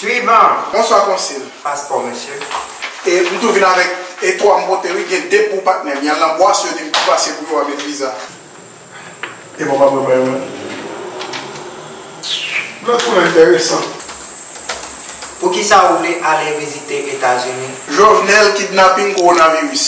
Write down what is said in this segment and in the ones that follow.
Swivan, Bonswa konsil. Paspò mesye. E m tou vin avèk e 3 m pote wi gen 2 pou patnè m. Yal nan bwas yo di m pou pase pou yo a met viza. E bon pa m repran yo menm. Lòt pou lan enteresan. Poukisa ou vle ale vizite etazini? Jovenel kidnapping coronavirus.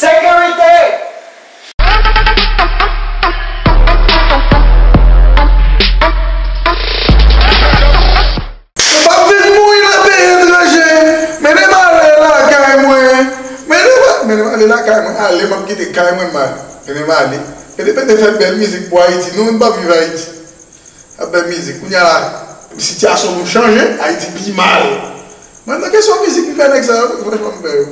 Sekirite! Mwen pap vin mouri nan peyi etranje Mennen m ale lakay mwen Mennen m ale Mennen m ale lakay mwen Ale m ap kite kay mwen m ale Mennen m ale Pete pete fè bèl mizik pou Ayiti Nou menm n pap viv Ayiti Ap bay mizik kounya la sitiyasyon moun chanje ayiti pi mal mwen nan kesyon mizik m fè nèg sa yo wi franchman m fè yo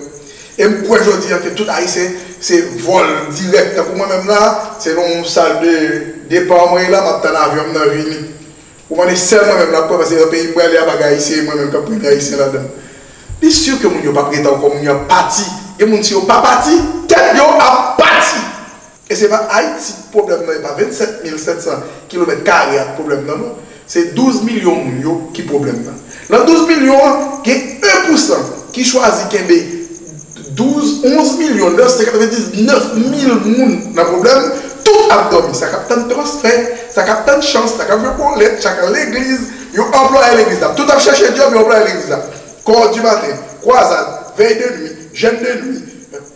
e m kwè jodi an ke tout ayisyen se vòl dirèk tankou mwen menm la se nan yon sal de depa mwen ye la m ap tann avyon m nan vini ou konn e sèl mwen menm la k kwè paske nan peyi m prale a pa gen ayisyen e mwen menm k ap premye ayisyen ladan li si ke moun yo p ap ret ankò moun yo ap pati gen moun si yo pa pati tèt yo ap pati. E se pa Ayiti ki pwoblèm nan, e pa 27 mil 700 kilomèt kare a ki pwoblèm nan non, se 12 milyon moun yo ki pwoblèm nan. Nan 12 milyon an, gen 1 pousan ki chwazi kenbe 12, 11 milyon 999 mil moun nan pwoblèm, tout ap dòmi, sa k ap tann transfè, sa k ap tann chans, sa k ap jwe bolèt, sa k al legliz, yo anplwaye legliz la, tout ap chèche djòb, yo anplwaye legliz la, kò di maten, kwazad, vèy de nwi, jèn de nwi.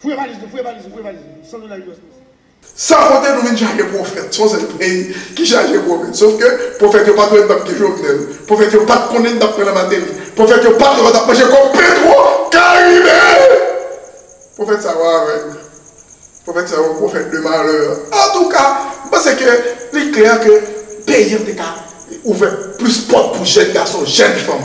Fouye valiz nou, fouye valiz nou, fouye valiz nou, 100 dola US nou se. San konte nou vin chaje pwofèt, son sèl peyi ki chaje pwofèt, sof ke pwofèt yo pat wè n tap di Jovenel, pwofèt yo pat konnen n tap pran nan Mateli, pwofèt yo pat wè nou tap manje kòb Petro Karibe! Pwofèt sa yo avèg, pwofèt sa yo pwofèt de malè. Antouka, m panse ke li klè ke peyi an te ka ouvè plis pòt pou jèn gason, jèn fanm.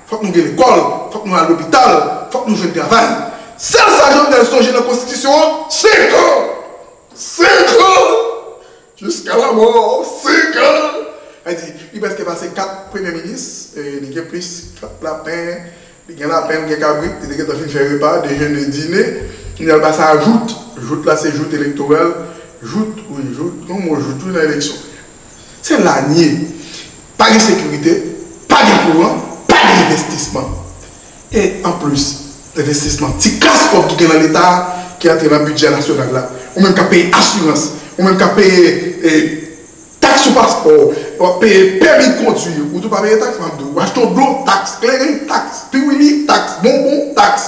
fòk nou gen lekòl, fòk nou al lopital, fòk nou jwenn travay. Sèl sa Jovenel sonje nan konstitisyon an, se kan! Se kan! Jiska lamò, se kan! Sa di, li prèske pase 4 premye minis, li gen plis kat lapen, li gen lapen, li gen kabrit, li te gentan fin fè repa, dejene, dine, kounye a l pase a jout. Jout la se jout elektoral, jout, wi, jout, gen yon mo jout wi nan eleksyon. Se la n ye. Pa gen sekirite, pa gen kouran, pa gen envestisman. E anplis envestisman, ti kas kòb ki gen nan Leta a ki antre nan bidjè nasyonal la, ou menm k ap peye asirans, ou menm k ap peye taks sou paspò, w ap peye pèmi kondwi, ou tou pa peye taks, m ap di w. W achte yon dlo, taks, kleren, taks, piwili, taks, bonbon, taks.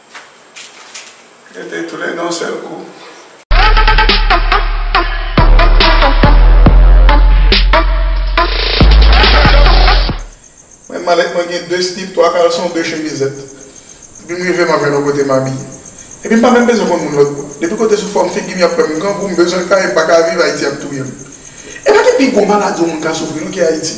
Yo te tou le de yon sèl kou. Menm malèt mwen gen de slip, twa kalson, de chemizèt. Depi m rive m ap jwenn yon kote m abiye. Epi m pa menm bezwen konn moun lòt bò. Depi kote sou fòm figi m y ap wè m grangou, m bezwen kay, m pa ka viv, Ayiti ap touye m. E pa gen pi gwo maladi yon moun ka soufri non ke Ayiti.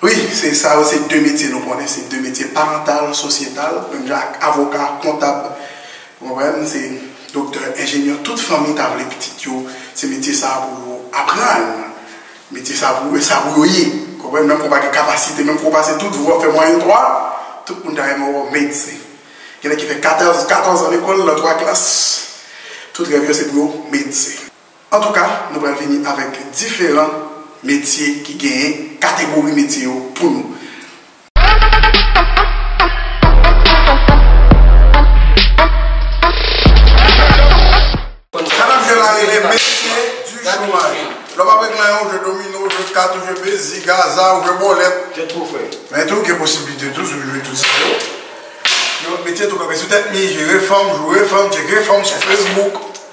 Wi, se sa yo se 2 metye nou konnen, se 2 metye parantal, sosyetal, menm jan ak avoka, kontab, ou konprann, se doktè, enjenyè, tout fanmi ta vle pitit yo se metye sa pou yo aprann, metye sa pou e sa pou yo ye, ou konprann, menm ke w pa gen kapasite, menm ke w pase tout vwa, fè mwayèn 3, tout moun ta renmen wè w medsen. Gen nèg ki fè 14 zan lekòl nan 3 klas, tout rèv yo se pou yo medsen. Antouka nou pral vini avèk diferan metye ki genyen kategori metye yo pou nou. Madan jwe la rele metye di chomaj. Lè w ap regle nan yon jwe domino, ou jwe kat, ou jwe pezi, gaza, ou jwe bòlèt. Men tou gen posiblite tou si w jwe tout sa yo. Gen lòt metye tou kanpe sou tèt mi, jere fanm, joure fanm, tcheke fanm sou fesbouk.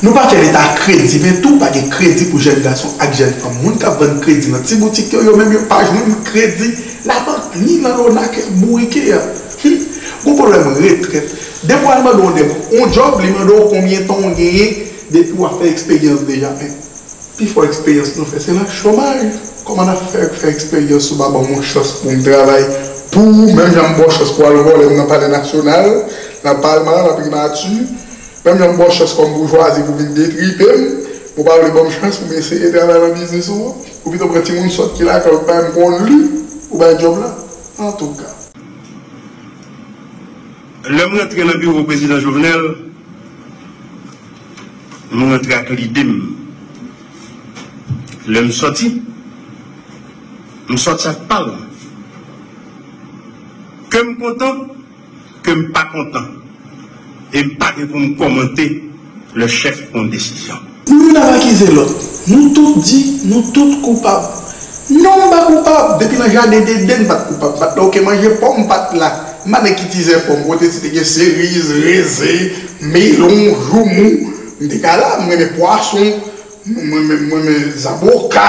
Nou pa fè leta kredi men tou pa gen kredi pou jèn gason ak jèn fanm. Moun k ap vann kredi nan ti boutik yo, yo menm yo pa jwenn kredi labank ni nan lona kè bourike a. Hum! Gwo pwoblèm retrèt. Depi w al mande yon nèg yon djòb, li mande w konbyen tan w genyen depi w ap fè eksperyans deja men. Pi fò eksperyans nou fè se nan chomaj. Kòman n ap fè fè eksperyans ou pa ban mwen chans pou m travay pou ou menm jan m ba w chans pou w al vòlè m nan palè nasyonal, nan palman, nan primati, menm jan m ba w chans kòm boujwazi pou w vin detripe m, men w pa vle ban m chans pou m eseye travay nan biznis ou an? Ou pito pran timoun sòt ki lakay ou ki pa menm konn li, ou bay djòb la? Antouka. Lè m rantre nan biwo Prezidan Jovenel, m rantre ak lide m. Lè m sòti, m sòti ak pal. Ke m kontan, ke m pa kontan. E m pa gen pou m kòmante. lè chèf pran desizyon. Youn ap akize lòt, nou tout di nou tout koupab. Non m pa koupab, depi nan jaden deden m pa t koupab, m pa t la ok manje pòm m pa t la, m pa nèg ki tizè pòm, kote si te gen seriz, rezen, melon, joumou m te ka la, m renmen pwason, m renmen zaboka,